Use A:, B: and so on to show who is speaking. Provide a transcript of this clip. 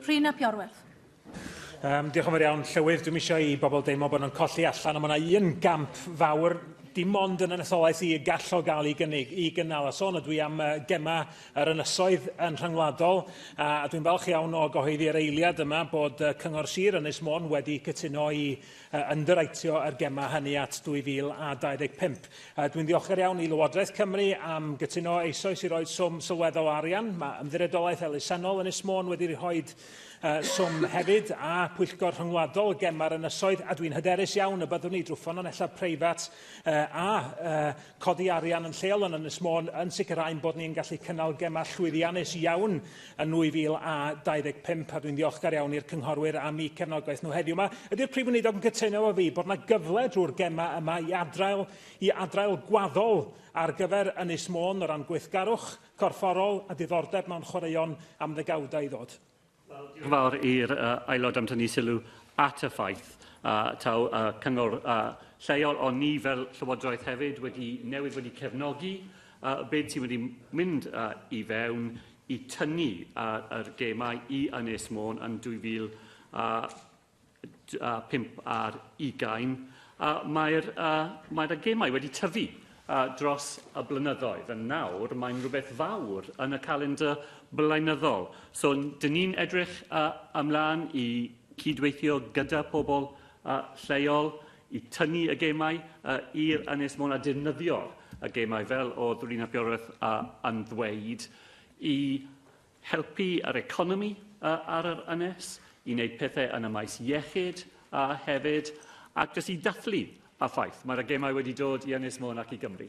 A: Rhun ap Iorwerth. Um,
B: diolch yn fawr iawn, Llywydd. Dwi'n eisiau i bobl deimlo bod nhw'n colli allan, ond mae yna un gamp fawr dim ond yn etholaeth i y gall o gael ei gynnig, i gynnal. A sôn ydw i am uh, gema yr ynysoedd yn rhyngwladol, a, a dwi'n falch iawn o gyhoeddi yr eiliad yma bod uh, Cyngor Sir Ynys Môn wedi cytuno i a underwriteio yr gemau hynny at 2025. Dwi'n ddiolchgar iawn i Lywodraeth Cymru am gytuno eisoes i roi swm sylweddol o arian. Mae Ymddiriedolaeth Elusennol Ynys Môn wedi rhoi swm hefyd, a Pwyllgor Rhyngwladol y Gemau'r Ynysoedd, a dwi'n hyderus iawn y byddwn ni drwy ffynonellau preifat a Codi arian yn lleol yn Ynys Môn yn sicrhau ein bod ni'n gallu cynnal gemau llwyddiannus iawn yn 2025 a dwi'n ddiolchgar iawn i'r cynghorwyr am eu cefnogaeth nhw heddiw 'ma. Ydy'r Prif Weinidog yn cytuno efo fi bod 'na gyfle drwy'r gemau yma i adrail i adrail gwaddol ar gyfer Ynys Môn o ran gweithgarwch corfforol a diddordeb mewn chwaraeon am ddegawdau i ddod? fawr
C: i'r uh, aelod am tynnu sylw at y ffaith a uh, taw uh, cyngor uh, lleol, ond ni fel Llywodraeth hefyd wedi newid wedi cefnogi uh, byd sy'n wedi mynd uh, i fewn i tynnu uh, yr gemau i Ynys Môn yn 2000 uh, 5 ar 20, a mae'r uh, mae y gemau wedi tyfu uh, dros y blynyddoedd. Yn nawr, mae'n rhywbeth fawr yn y calendr blynyddol. So, dyn ni'n edrych uh, ymlaen i cydweithio gyda pobl uh, lleol i tynnu y gemau uh, i'r Ynys Môn a defnyddio'r y gemau fel oedd Rina Bioreth uh, yn ddweud i helpu yr economi ar yr ynys, i wneud pethau yn y maes iechyd hefyd, ac jyst i ddathlu a ffaith, mae'r gemau wedi dod i Ynys Môn ac i Gymru.